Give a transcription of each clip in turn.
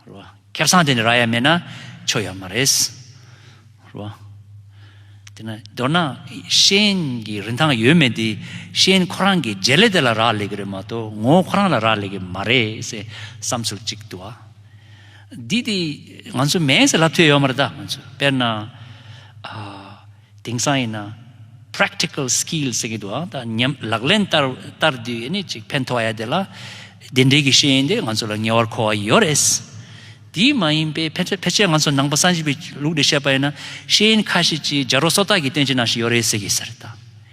སྐལ་བཟང་དེ་ནི་ར་ཡ་མེད་ན་ཆོ་ཡ་མ་རེད། དེ་ནི་མདོར་ན་ཤེས་ཡོན་གྱི་རིན་ཐང་ཡོད་མེད་འདི་ཤེས་ཡོན་ཁོ་རང་གི་རྗེས་ལས་དེ་ལ་རག་ལས་ཀྱི་རེད་མ་གཏོགས་ངོ་བོ་ཁོ་རང་ལ་རག་ལས་ཀྱི་མ་རེད་ཟེར་བསམ་ཚུལ་གཅིག་འདུག་ཨ། འདི་དེ་ང་ཚོ་མེད་ཟེར་ལབ་ཐུབ་ཡོད་མ་རེད་ད་ང་ཚོས་དཔེར་ན། དེང་སང་ཡིན་ན། Practical Skills ཟེར་གྱི་འདུག་ཨང་ད་ཉམས་ལག་ལེན་བསྟར་དུས་ནི་ཅིག་ཕན་ཐོགས་ཡ་དེ་ལ། དེ་འབྲེལ་གྱི་ཤེས་ཡོན་དེ་ང་ཚོ་ལ་ངེས་བར་མཁོ་བ་ཡོད་རེད། དེ་མ་ཡིན་པའི་ཕལ་ཆེར་ང་ཚོ་ནང་པ་སངས་རྒྱས་པའི་ལུགས་ལས་བཤད་པ་ཡིན་ན་ཤེས་ཡོན་ཁ་ཤས་ཀྱི་སྦྱར་རོ་སོ་ཏག་གི་སྟོན་བྱེད་ནང་ཞིག་ཡོད་རེད་ཟེར་གྱི་ཟེར་ད།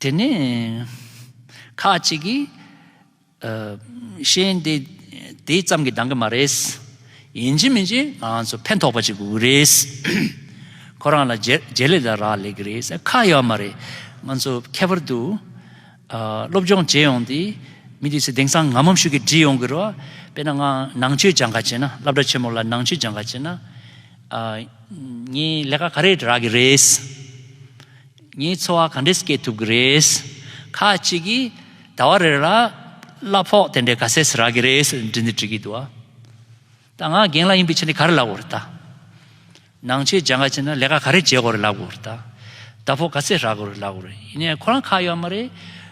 དེ་ནས་ཁ་ཅིག་གིས། གཤེན་དེ་དེ་ཙམ་གྱིས་འདང་གི་མ་རེད། ཡིན་གཅིག་མིན་གཅིག་ང་ཚོ་ཕན་ཐོགས་པ་ཅིག་དགོས་ཀྱི་རེད། ཁོ་རང་ལ་རྗེས་ལུས་ལ་རག་ལས་ཀྱི་རེད། ཁག་ཡོད་མ་རེད། ང་ཚོ་ཁྱད་པར་དུ་སློབ་སྦྱོང་བྱེད་ཡོང་དུས་མི་དེ་ཚོས་དེང་སང་ངམ་མམ་ཤུགས་ཀྱིས་བྲིས་ཡོང་གི་རེད། དཔེར་ན་ང་ནང་ཆོས་སྦྱང་ཁ་བྱེད་ན་སླབ་གྲྭ་ཆེན་མོ་ལ་ནང་ཆོས་སྦྱང་ཁ་བྱེད་ན། ངའི་ལས་ཀ་ག་རེ་རག་གི་རེད། ངའི་འཚོ་བ་ག་འདྲས་སྐྱེལ་ཐུབ་གི་རེད། ཁ་ཅིག་གིས་ཟླ་བ་རེ་རེར་གླ་ཕོགས་དེ་འདྲས་ག་ཚད་རག་གི་རེད་ཟེར་འདྲི་འདི་འདྲི་གི་འདུག་ཨ། ད་ང་རྒན་ལགས་ཡིན་པའི་ཕྱིར་ནས་ག་རེ་ལབ་དགོས་རེད་ད། ནང་ཆོས་སྦྱང་ག་བྱས་ན་ལས་ཀ་ག་རེ་བྱེད་དགོས་རེད་ལབ་དགོས་རེད་ད། ཟླ་ཕོགས་ག་ཚད་རག་དགོས་རེད་ལབ་དགོས་རེད་ཡིན་ནའི་ཁོ་རང་ཁ་གཡོག་མ་རེད།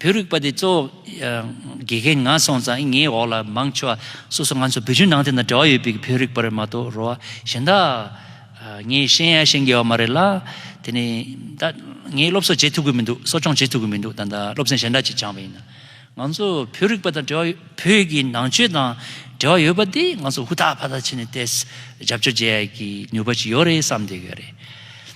བོད་རིག་པ་དེ་གཙོ་བོ་དགེ་རྒན་ང་སོང་ཙང་ངའི་འོག་ལ་མང་ཆེ་བ་སོ་སོ་ང་ཚོ་བོད་བརྒྱུད་ནང་བསྟན་དང་འབྲེལ་བ་ཡོད་པའི་བོད་རིག་པར་མ་གཏོགས་རོ་གཞན་དག་ངའི་ཤེས་ཡ་ཤེས་འགལ་བ་མ་རེད་ལ་དེ་ནས་ད་ངས་སློབ་གསོ་བྱེད་ཐུབ་གི་མི་འདུག་གསོ་སྐྱོང་བྱེད་ཐུབ་གི་མི་འདུག་ད་ད་སློབ་ཚན་གཞན་འདྲ་ཅིག་སྦྱངས་པ་ཡིན་ང་ཚོ་བོད་རིག་པ་དང་འབྲེལ་བ་བོད་ཀྱི་ནང་ཆོས་དང་འབྲེལ་བ་ཡོད་པ་དེ་ང་ཚོ་ཧུར་ཐག་ཕར་ཐག་བྱས་ནས་ཏེས་རྒྱབ་སྐྱོར་བྱེད་ཡག་གི་ནུས་པ་ཅིག་ཡོད་རེད་བསམ་བསྡད་ཡོད་རེད།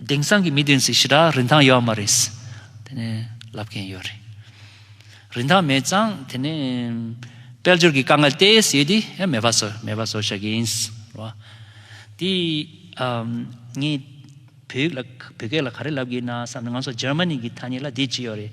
དེང་སང་གི་མི་དེ་ཚོས་ཞི་དྲག་རིན་ཐང་ཡོད་མ་རེད་དེ་ནས་ལབ་མཁན་ཡོད་རེད། རིན་ཐང་མེད་ཙང་དེ་ནས་དཔལ་འབྱོར་གྱི་དཀའ་ངལ་དེས་ཡོད་དེ་ཡང་མེད་པ་བཟོ་མེད་པ་བཟོ་ཤག་ཡིན། དེ་ངས་བོད་ཡིག་ལ་བོད་སྐད་ལ་ག་རེ་ལབ་དགོས་ན་བསམ་ནས་ང་ཚོ་ཇར་མ་ནི་གི་ཐ་སྙད་ལ་དེ་ཅི་ཡོད་རེད།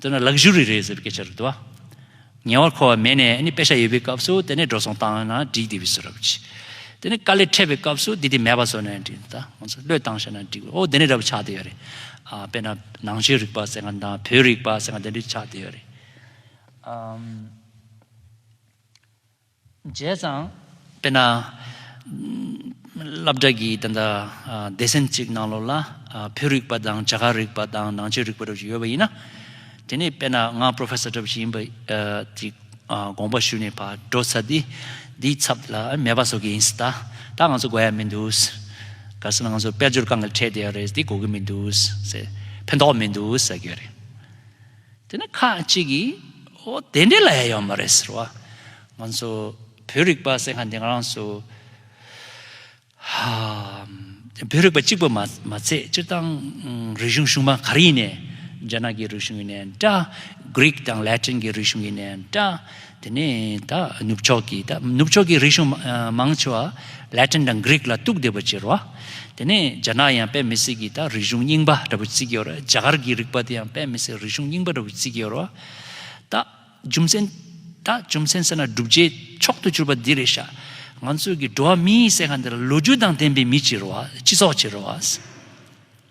འདི་ནི Luxury རེད་ཟེར་བའི་སྐད་ཆ་རེད་དོ། ཉེ་བར་མཁོ་བ་མེད་ནས་ནི་དཔེ་ཆ་ཡོད་པའི་སྐབས་སུ་དེ་ནས་འགྲོ་སོང་བཏང་ན་འགྲིག་དེ་བས་སུ་ར་བུ་ཆེ། དེ་ནི་དཀའ་ལས་འཕྲད་པའི་སྐབས་སུ་དེ་དེ་མེད་པ་བཟོ་ནས་འགྲིག་ད་ང་ཚོ་བློས་བཏང་བྱས་ན་འགྲིག་བས་ཨོ་དེ་ནི་ར་བུ་ཆགས་དེ་ཡོད་རེད། དཔེར་ན་ནང་ཆོས་རིག་པ་ཟེར་ན་དང་བོད་རིག་པ་ཟེར་ན་དེ་འདྲའི་ཆགས་དེ་ཡོད་རེད། བྱས་ཙང། དཔེར་ན། སླབ་གྲགས་ཀྱིས་ད་ལྟ་སྡེ་ཚན་གཅིག་ནང་ལོགས་ལ་བོད་རིག་པ་དང་བྱ་གག་རིག་པ་དང་ནང་ཆོས་རིག་པ་སྒྲུབ་བྱེད་ཡོད་པ་ཡིན་ན། དེ་ནས་དཔེར་ན་ང Professor སྒྲུབ་བྱེད་ཡིན་པ་དེ་དགོངས་པ་ཞུས་ནས་བགྲོ་ཚར་དུས་དེའི་ཚབ་ལ་མེད་པ་བཟོ་གི་ཡིན་སྲིད་ད་ད་ང་ཚོ་དགོས་ཡ་མི་འདུག་ག་སྲིད་ན་ང་ཚོ་དཔལ་འབྱོར་གང་གི་ཁྲལ་དེ་ཡང་རེད་དེ་དགོས་ཀྱི་མི་འདུག་ཕན་ཐོག་མི་འདུག་ཟེར་གྱི་ཡོད་རེད། དེ་ནས་ཁ་ཅིག་གིས་འོ་དེ་འདྲའི་ལ་ཡ་ཡོད་མ་རེད་ཟེར་བ། ང་ཚོ་བོད་རིག་པ་ཟེར་མཁན་དེ་ང་རང་ཚོ་བོད་རིག་པ་གཅིག་པུ་མ་ཚད་སྤྱིར་བཏང་རིག་གཞུང་གཞུང་མང་ག་རེ་ཡིན་ནས་རྒྱ་ནག་གི་རིག་གཞུང་ཡིན་ནས་འདྲ། Greek དང Latin གྱི་རིག་གཞུང་ཡིན་ནས་འདྲ། དེ་ནས་ད་ནུབ་ཕྱོགས་ཀྱི་ད་ནུབ་ཕྱོགས་ཀྱི་རིག་གཞུང་མང་ཆེ་བ Latin དང Greek ལ་གཏུགས་བསྡད་པ་བྱེད་རོགས། དེ་ནས་རྒྱ་ནག་ཡང་པད་མི་སི་ཀྱི་ད་རིག་གཞུང་རྙིང་པ་འདྲ་བུ་བརྩི་གི་ཡོད་རེད་རྒྱ་གར་གྱི་རིག་པ་དེ་ཡང་པད་མི་སི་རིག་གཞུང་རྙིང་པ་འདྲ་བུ་བརྩི་གི་ཡོད་རོགས། ད་རྒྱུ་མཚན་ད་རྒྱུ་མཚན་ཟེར་ན་བསྒྲུབ་བྱའི་མཆོག་ཏུ་གྱུར་པ་འདི་རེད་ཤག་ང་ཚོའི་གི་འགྲོ་བ་མིའི་སེ་ག་འདི་ལ་ལོ་རྒྱུས་དང་ལྡན་པའི་མི་བྱེད་རོགས་སྤྱི་ཚོགས་བྱེད་རོགས།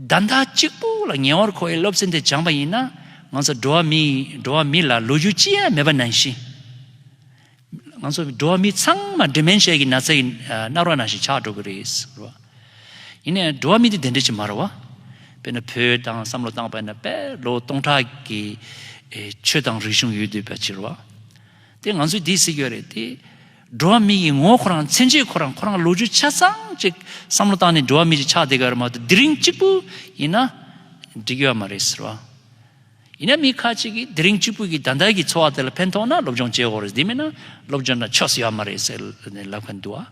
བདག་མཐའ་གཅིག་པུ་ལ་ཉེ་བར་མཁོ་བའི་སློབ་ཚན་དེ་སྦྱངས་པ་ཡིན་ན་ང་ཚོ་འགྲོ་བ་མི་འགྲོ་བ་མི་ལ་ལོ་རྒྱུས་ཅི་ཡང་མེད་པ་ནང་བཞིན། ང་ཚོ་འགྲོ་བ་མི་ཚང་མ Dementia གི་ན་ཚ་ཡི་རྣག་རོ་ནང་བཞིན་ཆགས་འགྲོ་གི་རེད། ཡིན་ནའི་འགྲོ་བ་མི་དེ་དེ་འདྲ་ཅིག་མ་རེད་བ། དཔེར་ན་བོད་དང་བསམ་བློ་བཏང་བས་ན་དཔལ་ལོ་སྟོང་ཕྲག་གི་ཆོས་དང་རིག་གཞུང་ཡོད་དུས་པ་ཕྱིར་བ། དེ་ང་ཚོས་དེ་སྲིད་ཡོད་རེད་དེ། འགྲོ་བ་མི་ཡི་ངོ་བོ་ཁོ་རང་མཚན་བྱེད་ཁོ་རང་ཁོ་རང་ལོ་རྒྱུས་ཆ་ཚང་ཅིག་བསམ་བློ་བཏང་ནས་འགྲོ་བ་མི་རིགས་ཆགས་བསྡད་ག་རེ་མ་གཏོགས་དེ་རིང་གཅིག་པུ་ཡིན་ན་འགྲིག་ཡོད་མ་རེད་ཟེར་བ། ཡིན་ན་མི་ཁ་ཅིག་གིས་དེ་རིང་གཅིག་པུ་གི་ད་ལྟ་གི་འཚོ་བ་དེ་ལ་ཕན་ཐོགས་ན་སློབ་སྦྱོང་བྱེད་འོག་རེད་དེ་མིན་ན་སློབ་སྦྱོང་དང་ཆོས་སུ་ཡོད་མ་རེད་ཟེར་ནས་ལབ་གི་འདུག་ཨ།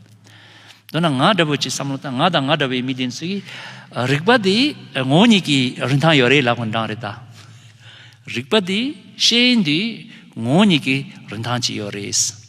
མདོར་ན་ང་འདྲ་བོ་ཅིག་བསམ་བློ་བཏང་ང་དང་ང་འདྲ་བའི་མི་དེ་ཚོའི་རིག་པ་དེ་ངོ་བོ་ཉིད་ཀྱི་རིན་ཐང་ཡོད་རེད་ལབ་གི་འདྲ་རེད་ད། རིག་པ་དེ་ཤེས་ཡོན་དེ་ངོ་བོ་ཉིད་ཀྱི་རིན་ཐང་ཅིག་ཡོད་རེད།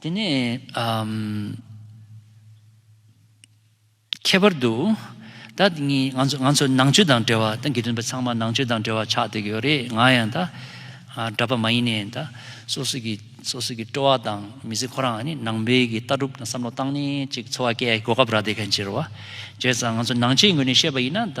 དེ་ནས་ཁྱད་པར་དུ་ད་ངས་ང་ཚོ་ང་ཚོ་ནང་ཆོས་དང་འབྲེལ་བ་ད་དགེ་འདུན་པ་ཚང་མ་ནང་ཆོས་དང་འབྲེལ་བ་ཆགས་བསྡད་ཀྱི་ཡོད་རེད་ང་ཡང་ད་གྲྭ་པ་མ་ཡིན་ནའི་ད་སོ་སོ་གི་སོ་སོ་གི་སྤྲོ་བ་དང་མི་ཚེ་ཁོ་རང་ནི་ནང་པའི་གི་ལྟ་གྲུབ་དང་བསམ་བློ་བཏང་ནས་ཅིག་འཚོ་བ་སྐྱེལ་གོ་སྐབས་རག་བསྡད་མཁན་ཕྱིར་བ་བྱས་ཙང་ང་ཚོ་ནང་ཆོས་ངོས་ནས་བཤད་པ་ཡིན་ན་ད།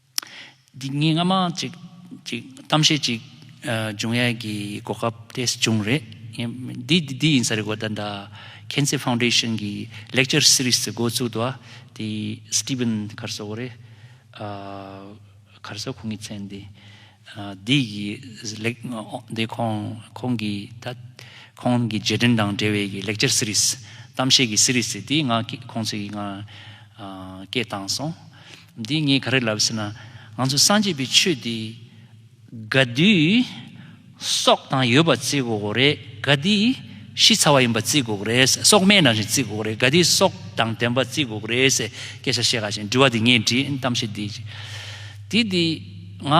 ངས་སྔ་མ་ཅིག་གཏམ་བཤད་ཅིག་འབྱུང་ཡས་ཀྱི་གོ་སྐབས་དེ་བྱུང་རེད། འདི་ཡིན་ས་རེད་གོ་ད་ལྟ་ཁེན་ཚེ་ཕའུ་འདྲེ་ཤོན་གྱི་ལེག་ཅར་སི་རིས་ཀྱི་འགོ་བཙུགས་དུ་བ་དེ་སི་ཏི་བིན་གར་སོ་གོ་རེད། གར་སོ་ཁོང་གི་མཚན་དེ་འདི་གི་ལེག་འདི་ཁོང་ཁོང་གི་ད་ཁོང་གི་རྗེས་དྲན་དང་འབྲེལ་བའི་ལེག་ཅར་སི་རིས་གཏམ་བཤད་ཀྱི་སི་རིས་དེ་ང་ཁོང་ཚོས་ང་སྐད་བཏང་སོང། འདི་ངས་ག་རེ་ལབ་ཟེར་ན། ང་ཚོ་སངས་རྒྱས་པའི་ཆོས་འདི། དགའ་བདུད། སྲོག་དང་ཡོལ་བ་བརྩི་དགོས་རེད། དགའ་བདུད། ཤི་ཚར་བ་ཡིན་པ་བརྩི་དགོས་རེད། སྲོག་སྨན་རང་བཞིན་བརྩི་དགོས་རེད། དགའ་བདུད་སྲོག་དང་ལྡན་པ་བརྩི་དགོས་རེད། སྐད་ཆ་བཤད་ག་བཞིན་དྲི་བ་འདི་ངས་འདྲིའི་གཏམ་བཤད་འདི། དེ་འདི། ང།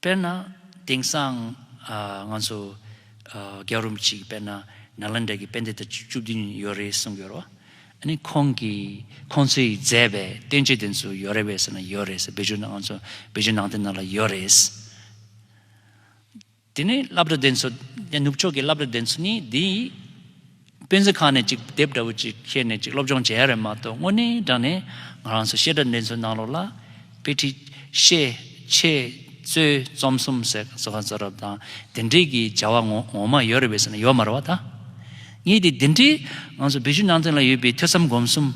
དཔེར་ན། དེང་སང་ང་ཚོ་རྒྱ་རོམ་གཅིག་དཔེར་ན་ནཱ་ལནྡྲ་གི་དཔེ་འདི་ལྟར་བཅུ་བདུན་ཡོད་རེད་གསུངས་ཡོད་རོ། ཨཱ་ཁོང་གིས་ཁོང་ཚོས་མཛད་པའི་སྟོན་བྱེད་དེ་ཚོ་ཡོད་རེད་བས་ཟེར་ན་ཡོད་རེད་ཟེར་བོད་ཆུ་ནང་ཚོ་བོད་ཆུ་ནང་དེ་ནང་ལ་ཡོད་རེད། དེ་ནས་བསླབ་གྲྭ་དེ་ཚོ་ནུབ་ཕྱོགས་ཀྱི་བསླབ་གྲྭ་དེ་ཚོ་ནི་འདིའི་སྤེན་ཚེ་ཁ་ནས་ཅིག་དེབ་འདྲ་བོ་ཅིག་ཁྱེར་ནས་ཅིག་སློབ་སྦྱོང་བྱས་ཡ་རེད་མ་གཏོགས་དངོས་གནས་དྲང་ནས་ང་རང་ཚོ་བཤད་གྲྭ་འདི་ཚོའི་ནང་ལོགས་ལ། དཔེ་ཁྲིད། བཤད། འཆད། རྩོད། རྩོམ་གསུམ་ཟེར་ག་གསོལ་ཁ་རྩོད་རབས་དང་དེ་འདྲས་ཀྱི་བྱ་བ་ངོ་མ་ཡོད་རེད་བས་ཟེར་ན་ཡོད་མ་རེད་བ་ད། ངས་དེ་འདི་འདྲའི་ང་ཚོ་བོད་བརྒྱུད་ནང་བསྟན་ལ་ཡོད་པའི་ཐོས་བསམ་སྒོམ་གསུམ་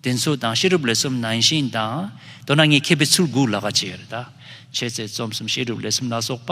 དེ་ཚོ་དང་བཤད་སྒྲུབ་ལས་གསུམ་ནང་བཞིན་དང་མདོར་ན་ངས་མཁས་པའི་ཚུར་འགུགས་ལ་ཁ་བྱས་ཡོད་རེད་ད། འཆད་རྩོད་རྩོམ་གསུམ་བཤད་སྒྲུབ་ལས་གསུམ་ལ་སོགས་པ།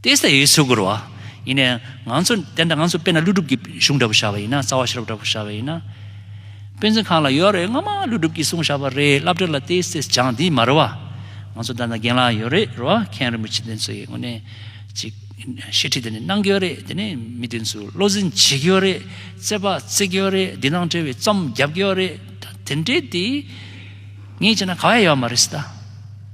ཏེ་སྟེ་ཡེ་ཤུ་གུར་བ། ཡིན་ནའི། ང་ཚོ་དེ་འདྲ་ང་ཚོ་དཔེར་ན་ཀླུ་སྒྲུབ་ཀྱི་གཞུང་འདྲ་པོ་བཞག་པ་ཡིན་ན་རྩ་བ་ཤེས་རབ་འདྲ་པོ་བཞག་པ་ཡིན་ན། དཔེ་མཚོན་གང་ལ་ཡོད་རེད་སྔོན་མ་ཀླུ་སྒྲུབ་ཀྱིས་གསུངས་བཞག་པ་རེད་བསླབ་བྲལ་ལ་ཏེ་སྟེ་སྦྱངས་འདི་མ་རེད་བ། ང་ཚོ་དེ་འདྲ་རྒན་ལགས་ཡོད་རེད་རེད་བ་མཁན་རིན་པོ་ཆེ་དེ་ཚོ་ཡི་ངོ་ནས་ཅིག་བཤད་ཁྲིད་དེ་ནི་གནང་གི་ཡོད་རེད་དེ་ནི་མི་དེ་ཚོས་བློ་འཛིན་བྱེད་ཀྱི་ཡོད་རེད་རྩེད་པ་རྩེད་ཀྱི་ཡོད་རེད་འདི་ནང་བྲེལ་བའི་རྩོམ་རྒྱབ་ཀྱི་ཡོད་རེད་ད་དེ་འདྲས་དེ་ངས་བྱས་ན་ག་བ་ཡོད་མ་རེད་སྟ།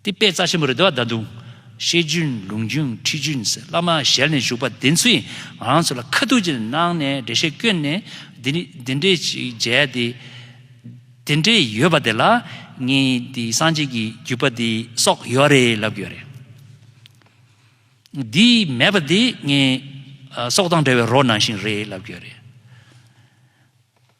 འདི་དཔེ་རྩ་ཆེན་པོ་རེད་དོ་ད་དུང། བཤད་རྒྱུན་ལུང་རྒྱུན་ཁྲིད་རྒྱུན་བླ་མ་ཞལ་ནས་བཞུགས་པ་དེ་ཚོས་ང་རང་ཚོ་ལ་ཁ་ཐུག་ཅིག་གནང་ནས་འགྲེལ་བཤད་བཀོད་ནས་འདི་འདྲས་ཅིག་མཇལ་ཏེ། དེ་འདྲས་ཡོད་པ་དེ་ལ་ངས་འདི་སངས་རྒྱས་ཀྱི་བརྒྱུད་པ་འདི་སོགས་ཡོད་རེད་ལབ་དགོས་རེད། འདི་མེད་པ་དེ་ངས་སྲོག་དང་འབྲལ་བའི་རོ་ནང་བཞིན་རེད་ལབ་དགོས་རེད།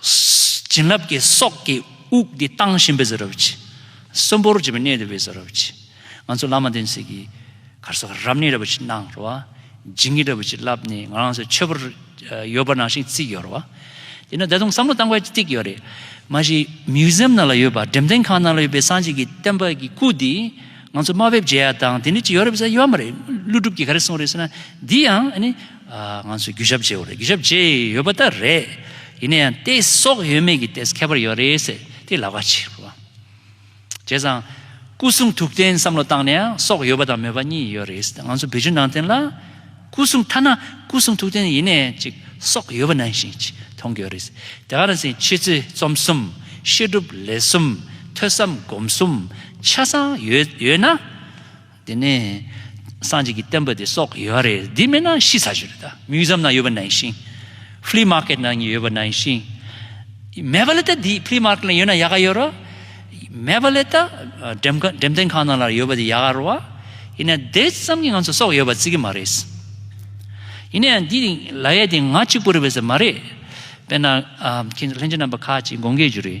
བྱིན་རླབས་ཀྱི་སྲོག་གི་དབུགས་འདི་བཏང་བཞིན་པའི་ཟ་རུབ་ཀྱིས། གསོན་པོར་གྱུར་པའི་གནས་དེ་བས་ཟ་རུབ་ཀྱིས། ང་ཚོ་བླ་མ་བསྟན་སྲིད་ཀྱི་གར་སོགས་རབ་གནས་ར་བུ་ཅིག་གནང་རོགས། སྦྱིན་གྱིས་ར་བུ་ཅིག་བསླབས་ནས་ང་རང་ཚོའི་མཆོད་པར་ཡོད་པ་ནང་བཞིན་བརྩིགས་ཡོད་རོགས། དེ་ནས་ད་དུང་བསམ་བློ་གཏང་དགོས་གཅིག་ཡོད་རེད། མ་གཞི Museum ནང་ལ་ཡོད་པ་འགྲེམས་སྟོན་ཁང་ནང་ལ་ཡོད་པའི་སངས་རྒྱས་ཀྱི་བསྟན་པ་ཀྱི་སྐུ་འདི་ང་ཚོ་དམའ་བེབས་བརྗེ་ཡ་དང་དེ་འདྲ་ཅིག་ཡོད་རེད་བསམ་ཡོད་མ་རེད། ཀླུ་སྒྲུབ་ཀྱིས་ག་རེ་གསུངས་རེད་ཟེར་ན་འདི་ཡང་ཨ་ནི། ང་ཚོས་རྒྱུ་ཞབས་བརྗེའོ་རེད་རྒྱུ་ཞབས་བརྗེ་ཡི་ཡོད་པ་ད་རེད། ཡིན་ན་ཡང་ཏེ་སྲོག་ཡོད་མེད་ཀྱི་ཏེས་ཁྱད་པར་ཡོད་རེད་ཟེར་དེ་ལ་ཁ་ཕྱིར་རོ། བྱས་ཙང། སྐུ་གསུང་ཐུགས་རྟེན་བསམ་བློ་བཏང་ནས་ཡང་སྲོག་ཡོད་པ་དང་མེད་པ་གཉིས་ཡོད་རེད་ཟེར་ང་ཚོ་བོད་བརྒྱུད་ནང་བསྟན་ལ། སྐུ་གསུང་ཐ་ན་སྐུ་གསུང་ཐུགས་རྟེན་ཡིན་ནས་ཅིག་སྲོག་ཡོད་པ་ནང་བཞིན་ཅིག་མཐོང་གི་ཡོད་རེད་ཟེར་དེ་ག་རང་ཟེར་ཁྱེད་ཚོས་རྩོམ་གསུམ་བཤད་སྒྲུབ་ལས་གསུམ་ཐོས་བསམ་སྒོམ་གསུམ་ཆ་ཚང་ཡོད་ཡོད་ན། དེ་ནས་སངས་རྒྱས་ཀྱི་བསྟན་པ་དེ་སོགས་ཡོད་རེད་འདི་མེད་ན་ཤི་ཚར་ཞིག་རེད་ད Museum ནང་ཡོད་པ་ནང་བཞིན Flea Market ནང་ཡོད་པ་ནང་བཞིན་མེད་པ་ལས་ད་འདི Flea Market ནང་ཡོད་ན་ཡག་ག་ཡོད་རོ་མེད་པ་ལས་ད་འགྲེམས་སྟོན་ཁང་ནང་ལ་ཡོད་པ་དེ་ཡག་ག་རོ་བ་ཡིན་ན་དེ་ཙམ་གྱི་ང་ཚོ་སོགས་ཡོད་པ་བརྩི་གི་མ་རེད་ཡིན་ན་ཡང་འདི་ལ་ཡ་དེ་ང་གཅིག་པུ་རེད་བས་ཟེར་མ་རེད་དཔེར་ན་ཁྱེད་ཚོ་ལྷན་རྒྱས་རྣམ་པ་ཁག་ཅིག་དགོངས་འགལ་རྒྱུ་རེད།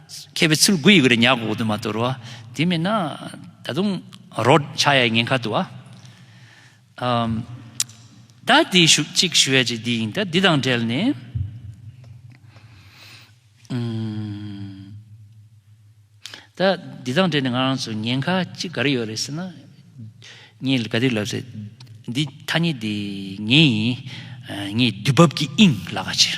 མཁས་པའི་ཚུལ་དགུ་ཡི་གུ་རེ་ཉག་གོ་དུ་མ་དོར་བ། དེ་མིན་ན་ད་དུང་རོ། ཕྱྭ་ཡའི་ངན་ཁ་དུ་བ། ད་དེ་ཞུགས་ཅིག་ཞུ་བའི་ཅིག་འདི་ཡིན་ད་འདི་དང་བྲལ་ནས། ད་འདི་དང་བྲལ་ནས་ང་རང་ཚོ་ཉེན་ཁ་ཅིག་ག་རེ་ཡོད་རེད་ཟེར་ན། ངས་ག་དུས་ལབ་ཚེ་འདི་ཐ་སྙད་འདི་ངའི་ཡིན། ངས་དུས་བབ་ཀྱི་དབྱིངས་ལ་ཁ་ཕྱེ།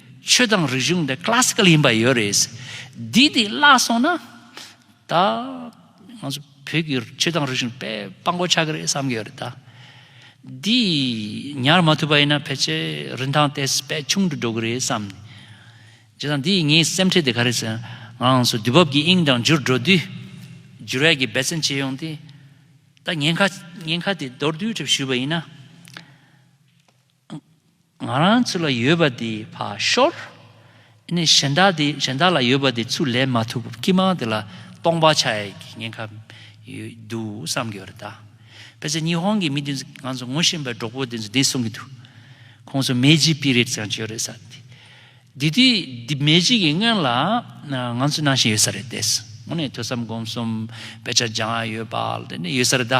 ཆོས་དང་རིག་གཞུང་འདི Classical ཡིན་པ་ཡོད་རེད། འདི་དེ་བརླག་སོང་ན། ད། ང་ཚོ་བོད་ཀྱི་ཆོས་དང་རིག་གཞུང་དཔེ་དཔང་པོ་ཆགས་ཀྱི་རེད་བསམ་གྱི་ཡོད་རེད་ད། འདི་ཉར་མ་ཐུབ་པ་ཡིན་ན་ཕལ་ཆེར་རིན་ཐང་དེ་བས་ཆུང་དུ་འགྲོ་གི་རེད་བསམ། བྱས་ཙང་འདི་ངའི་སེམས་ཁྲལ་དེ་ག་རེ་ཟེར་ན། ང་ཚོ་དུས་བབ་ཀྱི་དབྱིངས་དང་འཇུར་འགྲོ་དུས། འཇུར་ཡག་གི་འབད་བརྩོན་བྱས་ཡོང་སྟེ། ད་ཉེན་ཁ་ཉེན་ཁ་དེ་མདོར་བསྡུས་གྲབས་ཞུས་པ་ཡིན་ན། ང་རང་ཚོ་ལ་ཡོད་པ་དེ་བ་ཤོར། ནས་གཞན་དག་དེ་གཞན་དག་ལ་ཡོད་པ་དེ་ཚུར་ལེན་མ་ཐུབ་སྐྱིད་མང་དེ་ལ་སྟོང་པ་ཆགས་ཡས་ཀྱི་ཉེན་ཁ་ཡོད་འདུག་བསམ་གྱི་ཡོད་རེད་ད། དཔེར་ཟད་ཉི་ཧོང་གི་མི་དེ་ཚོ་ང་ཚོ་ངོ་ཤེས་པའི་གྲོགས་པོ་དེ་ཚོ་དེ་གསུང་གི་འདུག་ཁོང་ཚོ་མེ་ཇི་པི་རེད་ཀྱང་བྱས་ཡོད་རེད་ས་དེ། དེ་དུས་དེ་མེ་ཇི་གི་སྔོན་ལ་ང་ཚོ་ནང་བཞིན་ཡོད་ས་རེད་དེ། ངོ་ནས་ཐོས་བསམ་སྒོམ་གསུམ་དཔེ་ཆ་སྦྱང་ཡོད་པ་ལ་དེ་ནས་ཡོད་ས་རེད་ད།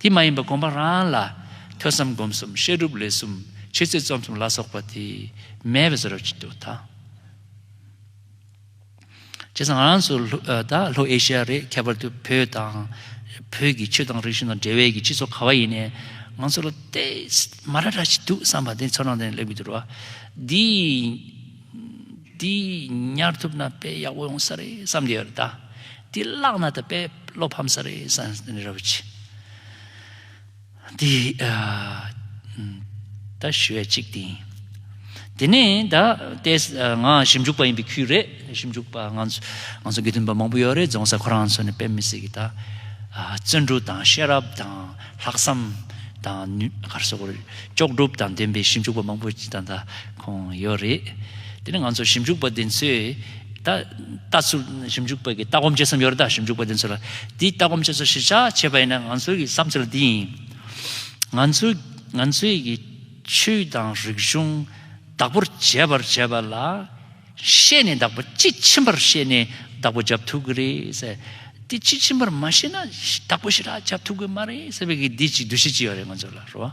དེ་མ་ཡིན་པར་གོམས་པ་རང་ལ། ཐོས་བསམ་སྒོམ་གསུམ་བཤད་སྒྲུབ་ལས་གསུམ་ཕྱི་ཚེས་རྩོམ་གསུམ་ལ་སོགས་པ་དེ་མེད་པའི་ཟོལ་ར་བྱེད་དོ། བྱས་ཙང་རང་སོ་ལྷོ་ཨེ་ཤི་ཡ་རེད་ཁྱད་པར་དུ་བོད་དང། བོད་ཀྱི་ཆོས་དང་རིག་གཞུང་དང་འབྲེལ་བའི་གི་སྤྱི་ཚོགས་ག་བ་ཡིན་ནས་ང་ཚོ་ལ་ལྟས་མ་ར་ར་ཞིག་འདུག་བསམ་པ་དེ་ཚོ་རང་དེ་ལེགས་པོ་གྱུར་བ་འདི། འདི་ཉར་ཐུབ་ན་དཔེ་ཡག་པོ་ཡོང་ས་རེད་བསམ་གྱི་ཡོད་ད། འདི་བཀླགས་ན་ད་དཔེ་བློ་ཕམ་ས་རེད་བསམ་གྱི་ཡོད་ར་བུ་ཆེ། འདི་ད་ཞུ་བའི་ཅིག་དེ་ཡིན། དེ་ནས་ད་ལྟའི་ང་ཞིབ་འཇུག་པ་ཡིན་པའི་ཁུལ་རེད་ཞིབ་འཇུག་པ་ང་ཚོ་དགེ་འདུན་པ་མང་པོ་ཡོད་རེད་རྫོང་སར་ཁོ་རང་ཚོ་ནས་དཔེ་མི་སྲིད་གི་ད། བརྩོན་འགྲུས་དང་ཤེས་རབ་དང་ལྷག་བསམ་དང་ནུས། ཅོག་གྲུབ་དང་ལྡན་པའི་ཞིབ་འཇུག་པ་མང་པོ་ད། ཁོང་ཡོད་རེད། དེ་ནི་ང་ཚོ་ཞིབ་འཇུག་པ་དེ་ཚོས་ད་ལྟ་ཚུར་ཞིབ་འཇུག་པ་གི་ལྟ་སྒོམ་བྱེད་སའམ་ཡོད་རེད་ད་ཞིབ་འཇུག་པ་དེ་ཚོ་ལ་དེའི་ལྟ་སྒོམ་བྱེད་ཚུལ་ཞིབ་ཆ་བྱེད་པ་ཡིན་ན་ང་ཚོའི་གི་བསམ་ཚུལ་འདི་ཡིན། ང་ཚོ་ང་ཚོའི་གི་ཆོས་དང་རིག་གཞུང་བདག་པོར་བྱེད་པར་བྱེད་པ་ལ་ཤེས་ནས་བདག་པོ་དཔྱིས་ཕྱིན་པར་ཤེས་ནས་བདག་པོ་བྱབ་ཐུབ་གི་རེད། དེ་དཔྱིས་ཕྱིན་པར་མ་ཤེས་ན་བདག་པོ་ཞིག་ལ་བྱབ་ཐུབ་གི་མ་རེད་ཟེར་བའི་གི་འདི་ཅིག་འདུ་ཤེས་ཅིག་ཡོད་རེད་ང་ཚོ་ལ་རོ།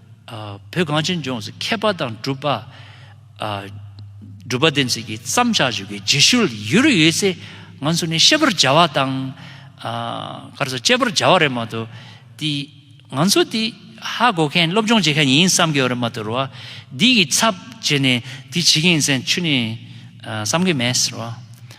བོད་གངས་ཅན་ལྗོངས་སུ་མཁས་པ་དང་གྲུབ་པ། སྒྲུབ་པ་བསྟེན་ཚུལ་གྱི་བརྩམ་བྱ་བཅུ་གའི་རྗེས་ཤུལ་ཡུལ་རེ་ཡོད་ཚེ་ང་ཚོ་ནི་ཤེས་པར་བྱ་བ་དང། ག་རེ་ཟ་དཔྱད་པར་བྱ་བ་རེད་མ་གཏོགས། དེ་ང་ཚོ་དེ་ཧ་གོ་མཁན་སློབ་སྦྱོང་བྱེད་མཁན་ཡིན་བསམ་གྱི་ཡོད་རེད་མ་གཏོགས་རེད་བ། འདི་གི་ཚབ་བྱས་ནས་དེ་བྱེད་མཁན་ཡིན་ཚན་ཆུད་ནས་བསམ་གྱི་མེད་རེད་བ།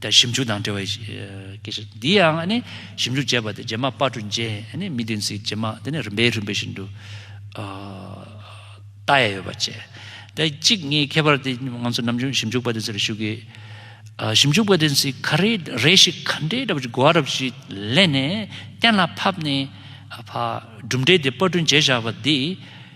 དང་ཞིབ་འཇུག་དང་འབྲེལ་བའི་སྐད་ཆ་འདི་ཡང་ནི་ཞིབ་འཇུག་བྱས་པ་དེ་རྗེས་མ་དཔར་གྲུ་འཇལ་ནི་མི་བདེན་ཚིག་རྗེས་མ་དེ་ནི་རིམ་པས་རིམ་པས་བཞིན་དུ་ལྟ་ཡས་ཡོད་པ་བཅས་དེ་གཅིག་ངའི་ཁྱད་པར་དེ་ང་ཚོ་ནམ་རྒྱུན་ཞིབ་འཇུག་པ་དེ་ཚོ་ལ་ཞུ་གི་ཞིབ་འཇུག་པ་དེ་ཚོས་ག་རེ་རེ་ཞིག་ག་འདྲའི་ར་བ་ཅིག་གོ་བ་ར་བ་ཞིག་ལེན་ནས་གཏན་ལ་ཕབ་ནས་ཕ་གྲུབ་འབྲས་དེ་དཔར་གྲུ་འཇལ་བཞག་པ་འདི་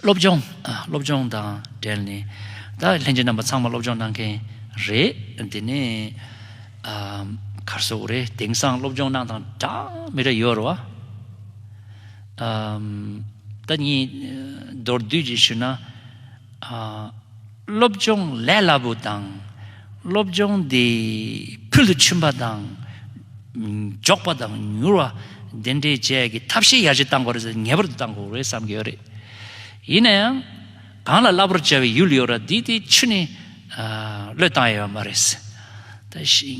སློབ་སྦྱོང། སློབ་སྦྱོང་དང་འབྲེལ་ནས་ད་ལྷན་རྒྱས་རྣམ་པ་ཚང་མ་སློབ་སྦྱོང་གནང་མཁན་རེད། དེ་ནས་གར་སོགས་རེད། དེང་སང་སློབ་སྦྱོང་གནང་དང་གྲངས་མི་རེ་ཡོད་རེད། ད་གཉིས་མདོར་བསྡུས་ཀྱིས་ཞུས་ན། སློབ་སྦྱོང་ལས་སླ་པོ་དང། སློབ་སྦྱོང་དེ་ཕུལ་དུ་ཕྱིན་པ་དང་མགྱོགས་པ་དང་མྱུར་བ་དེ་འདྲའི་བཅས་ཀྱི་ཐབས་ཤེས་ཡར་རྒྱས་བཏང་དགོས་རེད་ངེས་པར་དུ་བཏང་དགོས་རེད་བསམ་གྱི་ཡོད་རེད། ཡིན་ན་ཡང། གང་ལ་སླ་པོར་བྱ་བའི་ཡུལ་ཡོད་ར་དེ་དེ་ཆུ་ནས་བློས་བཏང་ཡོད་པ་མ་རེད།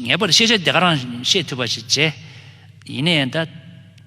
ངེས་པར་དུ་ཤེས་བྱ་དེ་ག་རང་ཤེས་ཐུབ་པ་ཞིག་བྱས། ཡིན་ན་ཡང་ད།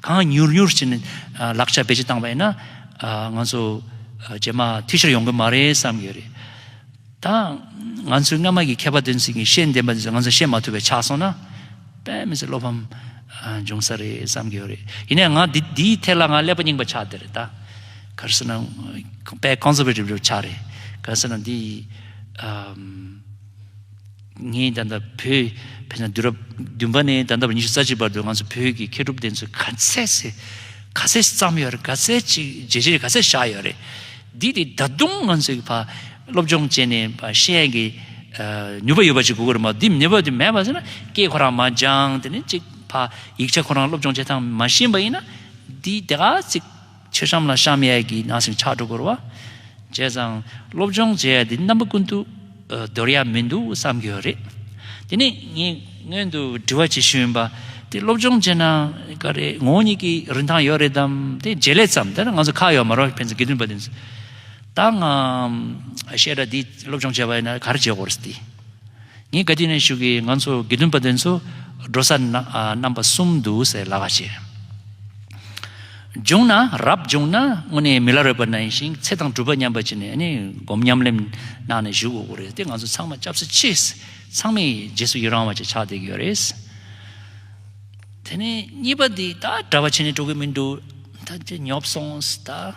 གང་མྱུར་མྱུར་བྱས་ནས་ལག་ཆ་བེད་སྤྱོད་བཏང་བ་ཡིན་ན། ང་ཚོ་རྗེས་མ་འཐུས་ཤོར་ཡོང་གི་མ་རེད་བསམ་གི་ཡོད་རེད། ད་ང་ཚོའི་སྔ་མ་གི་མཁས་པ་དེ་ཚོས་ཀྱིས་ཤེས་ལྡན་པ་དེ་ཚོས་ང་ཚོས་ཤེས་མ་ཐུབ་པའི་ཆགས་སོང་ན། དཔེ་མི་སྲིད་བློ་ཕམ་འབྱུང་ས་རེད་བསམ་གི་ཡོད་རེད། ཡིན་ནའི་ང་འདིའི་ཐད་ལ་ང་ཀླད་པ་རྙིང་པ་ཆགས་བསྡད་རེད་ད། གལ་སྲིད་ན་དཔེ Conservative ཆགས་རེད། གལ་སྲིད་ན་འདི། ངས་ད་ལྟ་བོད་ཕེབས་ན་དུས་རབས་བདུན་པ་ནས་ད་ལྟ་བར་ཉི་ཤུ་རྩ་གཅིག་བར་དུ་ང་ཚོ་བོད་ཀྱི་མཁས་གྲུབ་བསྟན་འཛིན་ག་ཚད་ཟེར་ག་ཚད་བརྩམས་ཡོད་རེད་ག་ཚད་ཅིག་བརྗེད་བྱས་ག་ཚད་བཞག་ཡོད་རེད། འདི་དེ་ད་དུང་ང་ཚོའི་བར་སློབ་སྦྱོང་བྱས་ནས་བར་ཤེས་ཡོན་གྱི་ནུས་པ་ཡོད་པ་ཅིག་དགོས་ཀྱི་རེད་མ་གཏོགས་འདི་ནུས་པ་དེ་མེད་པ་ཟེར་ན་སྐད་ཁོ་རང་མ་སྦྱངས་དེ་ནས་ཅིག་བར་ཡིག་ཆ་ཁོ་རང་སློབ་སྦྱོང་བྱེད་སྟངས་མ་ཤེས་པ་ཡིན་ན་འདི་དེ་ག་ཚིག། མཆོད་ཤམ་ལ་བཤམ་ཡས་ཀྱི་ནང་ཞིང་ཆག་དྲུག་བསྐོར་བ་བྱས་ཙང་སློབ་སྦྱོང་བྱེད་ཡས་འདི་རྣམ་པ་ཀུན་ཏུ་འདོར་ཡས་མི་འདུག་བསམ་གྱི་ཡོད་རེད། དེ་ནས་ངས་སྔོན་དུ་དྲི་བ་བྱེད་ཤེས་ཡོན་པ་དེ་སློབ་སྦྱོང་བྱེད་ན་ག་རེ་ངོ་བོ་ཉིད་ཀྱི་རིན་ཐང་ཡོད་རེད་དམ་དེ་བརྗེད་ལས་ཙམ་དེ་ལ་ང་ཚོ་ཁག་ཡོད་མ་རོགས་ཕན་ཚུན་དགེ་འདུན་པ་དེ་ཚོས་ད་ང་བཤད་གྲྭ་འདི་སློབ་སྦྱོང་བྱས་པ་ཡིན་ན་ག་རེ་བྱེད་དགོས་རེད་ཟེར་ཏེ། ངས་ག་དུས་ནས་ཞུ་གི་ང་ཚོ་དགེ་འདུན་པ་དེ་ཚོ་འགྲོ་ས་རྣམ་པ་གསུམ་འདུག་ཟེར་ལ་ཁ་བྱས། འབྱུང་ན་རབ་བྱུང་ན་དངོས་གནས་མི་ལ་རོལ་པ་ན་ཡིན་ཞིང་ཚེ་དང་སྒྲུབ་པ་མཉམ་པར་བྱས་ནས་ནི་སྒོམ་ཉམས་ལེན་གནང་ནས་བཞུགས་དགོས་རེད་དེ་ང་ཚོ་ཚང་མ་སྐྱབས་སུ་མཆི། ཚང་མས་རྗེས་སུ་ཡི་རང་བ་ཅིག་ཆགས་བསྡད་ཀྱི་ཡོད་རེད། དེ་ནས་གཉིས་པ་འདི་ད་གྲྭ་བ་བྱས་ནས་འགྲོ་གི་མི་འདུག་ད་ཉོབ་སོང་ད།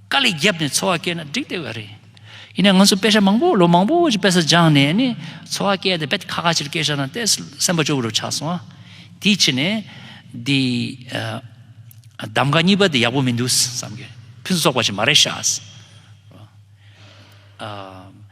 དཀའ་ལས་བརྒྱབ་ནས་འཚོ་བ་སྐྱེལ་ན་འགྲིག་བསྡད་ཡོད་རེད། ཡིན་ནའི་ང་ཚོ་དཔེ་ཆ་མང་པོ་ལོ་མང་པོ་ཞིག་དཔེ་ས་སྦྱངས་ནས་ནི་འཚོ་བ་སྐྱེལ་ཏེ་བེད་ཁ་ཁ་ཕྱིར་སྐྱེལ་བཞག་ན་ལྟས་སེམས་པ་སྐྱོ་བོ་རུ་ཆགས་སོང་ཨ། དེའི་ཕྱིར་ནས། འདི། གདམ་ག་གཉིས་པ་འདི་ཡག་པོ་མི་འདུག་བསམ་གྱི། ཕུན་སུ་ཚོགས་པ་ཞིག་མ་རེད་ཤག།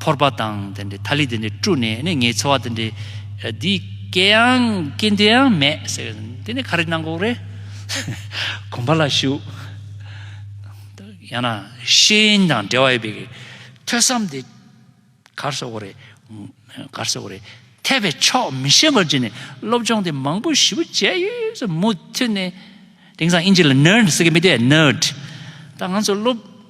ཕོར་པ་དང་དེ་འདྲའི་ཐ་ལི་དེ་འདྲས་བཀྲུས་ནས་ནི་ངའི་འཚོ་བ་དེ་འདྲས་འདི་སྐྱེལ་ཡང་སྐྱེལ་འདོད་ཡང་མེད་ཟེར་བས་དེ་ནི་ག་རེ་གནང་གོ་རེད། གོམ་པ་ལ་བཞུགས། ཡང་ན་ཤེས་ཡིན་དང་འབྲེལ་བ་ཡོད་པའི་ཐོས་བསམ་དེ་གར་བཟོ་གོ་རེད། གར་བཟོ་གོ་རེད། འཐད་པའི་ཕྱོགས་མི་ཤེས་པར་གྱུར་ནས་སློབ་སྦྱོང་དེ་མང་པོ་ཞིབ་པོ་བྱས་ཡོད་ཟེར་མུ་མཐུད་ནས། དེང་སང་དབྱིན་ཇི་ལ Nerd ཟེར་གི་མི་དེ Nerd། ད་ང་ཚོ་སློབ།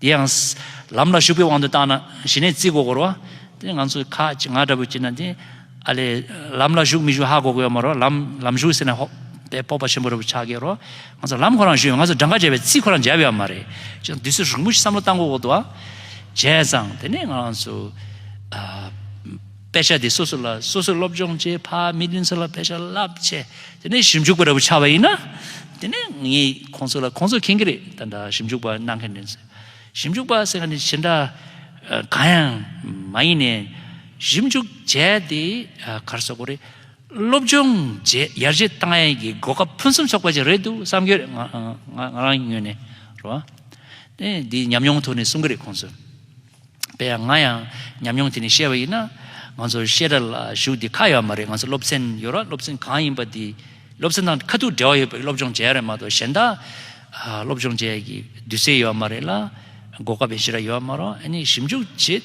དེ་ཡང། ལམ་ལ་ཞུགས་པའི་དབང་དུ་བཏང་ན་ཞི་གནས་རྩིས་འགོ་སྐོར་བ། དེ་ང་ཚོས་ཁ་ཅིག་ང་འདྲ་བོས་བྱས་ན་དེ། ཨ་ལས། ལམ་ལ་ཞུགས་མི་ཞུགས་ཧ་གོ་གི་ཡོད་མ་རོགས་ལམ་ལམ་ཞུགས་ཟེར་ན་ཧོ། པའི་སྤོབས་པ་ཆེན་པོ་རེད་བོ་ཆགས་ཀྱི་རོགས། ང་ཚོ་ལམ་ཁོ་རང་ཞུས་ཡོད་ང་ཚོ་སྦྲང་ཁ་འཇལ་བའི་རྩིས་ཁོ་རང་འཇལ་ཡོད་མ་རེད། ཅི་ཙང་དུས་ཚོད་རིང་པོ་ཞིག་བསམ་བློ་བཏང་གོ་གོ་ཏོ། བྱས་ཙང་དེ་ནས་ང་རང་ཚོ། དཔེ་ཆ་དེ་སོ་སོ་ལ་སོ་སོའི་སློབ་སྦྱོང་བྱེད་ཕ་མི་བདུན་ཚོ་ལ་དཔེ་ཆ་རླབས་ཆེ་དེ་ནས་ཞིབ་འཇུག་པ་ར་བུ་ཆགས་པ་ཡིན་ན་དེ་ནས་ངས་ཁོང་ཚོ་ལ་ཁོང་ཚོ་མཁྱེན་གྱི་རེད་ད་འདྲ་ཞིབ་འཇུག་པ་གནང་མཁན་རེད་ཟེར་ཞིབ་འཇུག་པ་ཟེར་མཁན་དེ་ཇི་འདྲ་གང་ཡང་མ་ཡིན་ནས་ཞིབ་འཇུག་བྱས་ཏེ་གར་སོ་གོ་རེད་སློབ་སྦྱོང་བྱས་ཡར་རྒྱས་བཏང་ཡས་ཀྱི་གོ་སྐབས་ཕུན་སུམ་ཚོགས་པ་ཅིག་རེད་འདུག་བསམ་གྱི་རེད་ང་རང་ངོས་ནས་རེད་དེ་ཉམས་མྱོང་ཐོག་ནས་གསུང་གི་རེད་ཁོང་ཚོས། པས་ང་ཡང་ཉམས་མྱོང་དེ་ནས་བཤད་པ་ཡིན་ན། ང་ཚོ་བཤད་གྲྭ་ལ་ཞུགས་དེ་ཁག་ཡོད་མ་རེད་ང་ཚོ་སློབ་ཚན་ཡོད་ར་སློབ་ཚན་གང་ཡིན་པ་དེ་སློབ་ཚན་དང་ཁ་ཐུག་འབྲེལ་བ་ཡོད་པའི་སློབ་སྦྱོང་བྱས་ཡོད་རེད་མ་གཏོགས་གཞན་དག་སློབ་སྦྱོང་བྱས་ཀྱི་འདུས་སའི་ཡོད་མ་རེད་ལ་གོ་སྐབས་ཡེ་ཤེས་ར་ཡོད་མ་རོག་ཨ་ནི་ཞིབ་འཇུག་བྱས་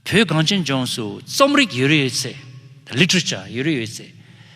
ཏེ། བོད་གངས་ཅན་ལྗོངས་སུ་རྩོམ་རིག་ཡོད་རེ་ཡོད་ཚེ། Literature། ཡོད་རེ་ཡོད་ཚེ།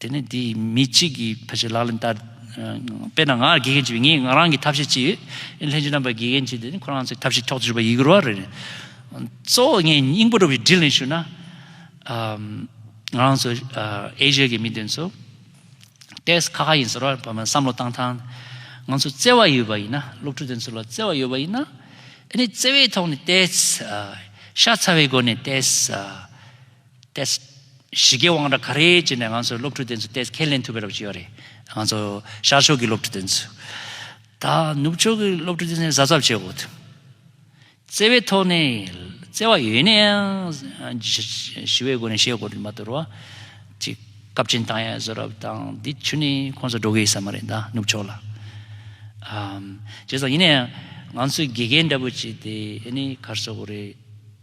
དེ་ནས་དེས་མི་གཅིག་གིས་ཕལ་ཆེར་ལག་ལེན་བསྟར། དཔེར་ན་ང་ལ་དགེ་རྒན་གཅིག་ཡོད་ངས་ང་རང་གི་ཐབས་ཤེས་གཅིག་ཡོད། ལྷན་ཅིག་རྣམ་པར་དགེ་རྒན་གཅིག་དེ་ནི་ཁོ་རང་ཚོའི་ཐབས་ཤེས་ཐོག་ཏུ་གྱུར་པ་ཡིན་དགོས་རོགས་རེད། གཙོ་བོ་ངས་སྙིང་པོ་རུ་བའི་དྲིན་ལན་ཞུ་ན། ང་རང་ཚོ་ཨེ་ཤེ་ཡ་གི་མི་དེ་ཚོ། ཏེས་ཁ་ཁ་ཡིན་ཟེར་བར་བསམ་བློ་བཏང་ཐང། ང་ཚོ་བརྩེ་བ་ཡོད་པ་ཡིན་ན་སློབ་ཕྲུག་དེ་ཚོ་ལ་བརྩེ་བ་ཡོད་པ་ཡིན་ན། ཨེ་ནི་བརྩེ་བའི་ཐོག་ནས་ཏེས། ཤ་ཚ་བའི་སྒོ་ནས་ཏེས། ཏེས། གཞིས་ཀའི་དབང་གྲགས་ག་རེ་བྱས་ནས་ང་ཚོའི་སློབ་ཕྲུག་དེ་ཚོ་ཏེས་ཁས་ལེན་ཐུབ་པའི་རབ་བྱུས་ཡོད་རེད། ང་ཚོ་ཤར་ཕྱོགས་ཀྱི་སློབ་ཕྲུག་དེ་ཚོས། ད་ནུབ་ཕྱོགས་ཀྱི་སློབ་ཕྲུག་དེ་ཚོའི་གཟབ་གཟབ་བྱེད་དགོས། བརྩེ་བའི་ཐོག་ནས། བརྩེ་བ་ཡོད་ནའང། ཞི་བའི་སྒོ་ནས་བཤད་དགོས་རེད་མ་གཏོགས། ཅིག་སྐབས་ཅིན་ཐང་ཡ་བཟོ་རབས་དང་འདི་ཆུ་ནི་ཁོང་ཚོ་འགྲོ་གི་ཡོད་ས་མ་རེད་ད་ནུབ་ཕྱོགས་ལ། བྱས་ཙང་ཡིན་ནའང། ང་ཚོས་དགེ་རྒན་འདྲ་པོ་བྱས་ཏེ་ཨ་ནི་གར་སོ་དགོས་རེད།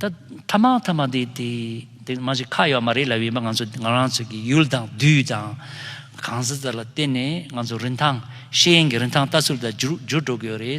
ཐ་མ་ཐ་མ་དེ་དེ་དེ་མ་ཞིག་ཁ་ཡོད་མ་རེད་ལབ་ཡོད་པ་ང་ཚོ་ང་རང་ཚོ་གི་ཡུལ་དང་དུས་དང་གང་ཟག་ཚོ་ལ་བརྟེན་ནས་ང་ཚོ་རིན་ཐང་ཤེས་ཡོན་གྱི་རིན་ཐང་ལྟ་ཚུལ་དང་འགྱུར་འགྱུར་འགྲོ་གི་ཡོད་རེད།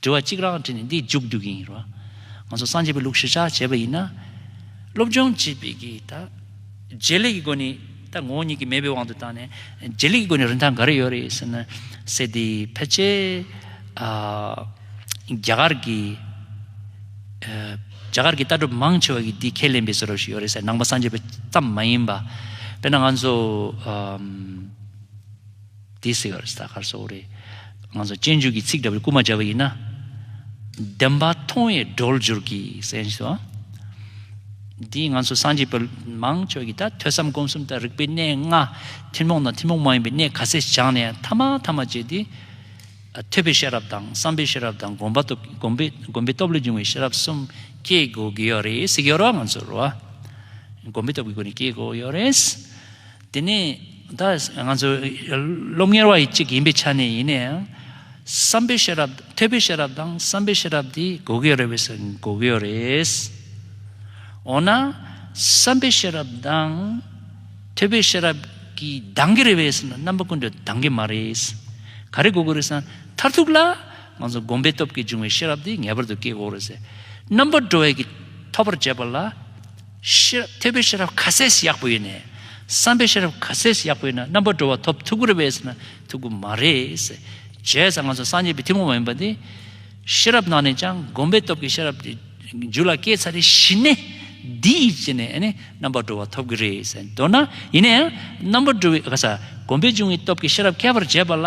དྲི་བ་གཅིག་རང་དྲིས་ནས་འདི་མཇུག་བསྡུ་གིན་ཡིན་རོ། ང་ཚོ་སངས་རྒྱས་པའི་ལུགས་གཞིར་བཞག་བྱས་པ་ཡིན་ན། སློབ་སྦྱོང་བྱེད་པའི་གི་ད། བརྗེ་ལེགས་ཀྱི་སྒོ་ནས་ད་ངོ་བོ་ཉིད་ཀྱི་མེད་པའི་དབང་དུ་བཏང་ནས། བརྗེ་ལེགས་ཀྱི་སྒོ་ནས་རིན་ཐང་ག་རེ་ཡོད་རེད་ཟེར་ན། སེ་འདི་ཕལ་ཆེར། རྒྱ་གར་གྱི། རྒྱ་གར་གྱི་ལྟ་གྲུབ་མང་ཆེ་བ་གིས་འདི་ཁས་ལེན་པའི་ཟེར་བ་ཞིག་ཡོད་རེད་ས་ནང་པ་སངས་རྒྱས་པའི་གཏམ་མ་ཡིན་པ། དཔེར་ན་ང་ཚོ། དེ་སྲིད་གར་ས་གར་སོགས་རེད། ང་ཚོ་སྤྱན་འཇུག་གི་ཚིག་འདྲ་བོའི་སྐུལ་མ་བྱ་བ་ཡིན་ན། བདེན་པ་མཐོང་བའི་སྒྲོལ་སྦྱོར་གྱི་གསན་བཞིན་སོ། འདིས་ང་ཚོ་སངས་རྒྱས་པ་མང་ཆོས་ཀྱི་དང་ཐོས་བསམ་སྒོམ་གསུམ་དང་རིག་པའི་གནས་ལྔ། ཐུན་མོང་དང་ཐུན་མོང་མ་ཡིན་པའི་གནས་ག་ཚད་སྦྱངས་ནས་ཐ་མ་ཐ་མ་བྱས་ཏེ། ཐོས་པའི་ཤེས་རབ་དང་བསམ་པའི་ཤེས་རབ་དང་སྒོམ་པ་སྒོམ་པའི་སྟོབས་ལས་འབྱུང་བའི་ཤེས་རབ་གསུམ་སྐྱེ་དགོས་ཀྱི་ཡོད་རེད། སེ་གེ་རོ་ང་ཚོར་བ། སྒོམ་པའི་སྟོབས་ཀྱི་སྒོ་ནས་སྐྱེ་དགོས་ཡོད་རེད། དེ་ནི་ད་ང་ཚོ་སློབ་གཉེར་བ་ཡི་གཅིག་ཡིན་པའི་ཆ་ནས་ཡིན་ན་ཡང། བསམ་པའི་ཤེས་རབ་ཐོས་པའི་ཤེས་རབ་དང་བསམ་པའི་ཤེས་རབ་དེ་དགོས་ཀྱི་རེད་བས་སོ་དགོས་ཀྱི་རེད། འོ་ན་བསམ་པའི་ཤེས་རབ་དང། ཐོས་པའི་ཤེས་རབ་ཀྱིས་འདང་གི་རེད་བས་སོ་ན་རྣམ་པ་ཀུན་ཏུ་འདང་གི་མ་རེད། ག་རེ་དགོས་ཀྱི་རེད་ས་ན་མཐར་ཐུག་ལ་ང་ཚོ་བསྒོམ་པའི་སྟོབས་ཀྱིས་འབྱུང་བའི་ཤེས་རབ་དེ་ངེས་པར་དུ་སྐྱེ་དགོས་རེད། རྣམ་པར་གྲོལ་བའི་གིས་ཐོབ་པར་བྱས་པ་ལ་ཤེས་རབ་ཐོས་པའི་ཤེས་རབ་ཁ་ཟས་ཡག་པོ་ཡོད་ནས། བསམ་པའི་ཤེས་རབ་ཁ་ཟས་ཡག་པོ་ཡོད་ན་རྣམ་པར་འགྲོ་བ་ཐོབ་ཐུག་གུ་རུ་བས་ཟེར་ན་ཐུག་གུ་མ་རེད། བྱས་ཙང་ང་ཚོ་སངས་རྒྱས་པའི་ཐུན་མོང་མ་ཡིན་པ་འདི། ཤེས་རབ་ནང་ནས་ཀྱང་སྒོམ་པའི་སྟོབས་ཀྱི་ཤེས་རབ་དེ། རྒྱུད་ལ་སྐྱེས་ཚར་རེ་ཤི་ནས། འདི་ཡིས་བྱས་ནས་རྣམ་པར་འགྲོ་བ་ཐོབ་གི་རེད་ཟེར་མདོར་ན་ཡིན་ན་ཡང་རྣམ་པར་འགྲོ་བའི་གསག་སྒོམ་པའི་འབྱུང་བའི་སྟོབས་ཀྱི་ཤེས་རབ་མཁས་པར་བྱས་པ་ལ།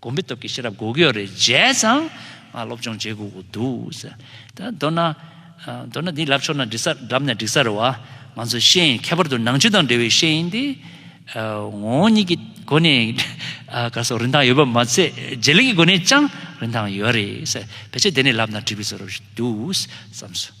དགོན་པའི་སྟོབས་ཀྱིས་ཤེས་རབ་སྒོ་གཡོག་རེ་མཇལ་ཙང་ང་སློབ་སྦྱོང་བྱེད་དགོས་དགོས་འདུག་ཟེར། ད་མདོར་ན། མདོར་ན་འདི་ལབ་ཆོག་ན་འབྲི་ས་འགྲམ་ནས་བསྒྲིག་ས་རེད་བ། ང་ཚོ་ཤེས་ཡིན་ཁྱད་པར་དུ་ནང་ཆོས་དང་འབྲེལ་བའི་ཤེས་ཡིན་འདི། ངོ་བོ་ཉིད་ཀྱི་སྒོ་ནས་ག་སོགས་རིན་ཐང་ཡོད་པ་མ་ཚད་བརྗེ་ལེགས་ཀྱི་སྒོ་ནས་ཅང་རིན་ཐང་ཡོད་རེད་ཟེར། བེད་སྤྱད་དེ་ནས་ལབ་ན་འགྲིག་པའི་ཚོར་བ་ཞིག་འདུག་བསམ་སོང།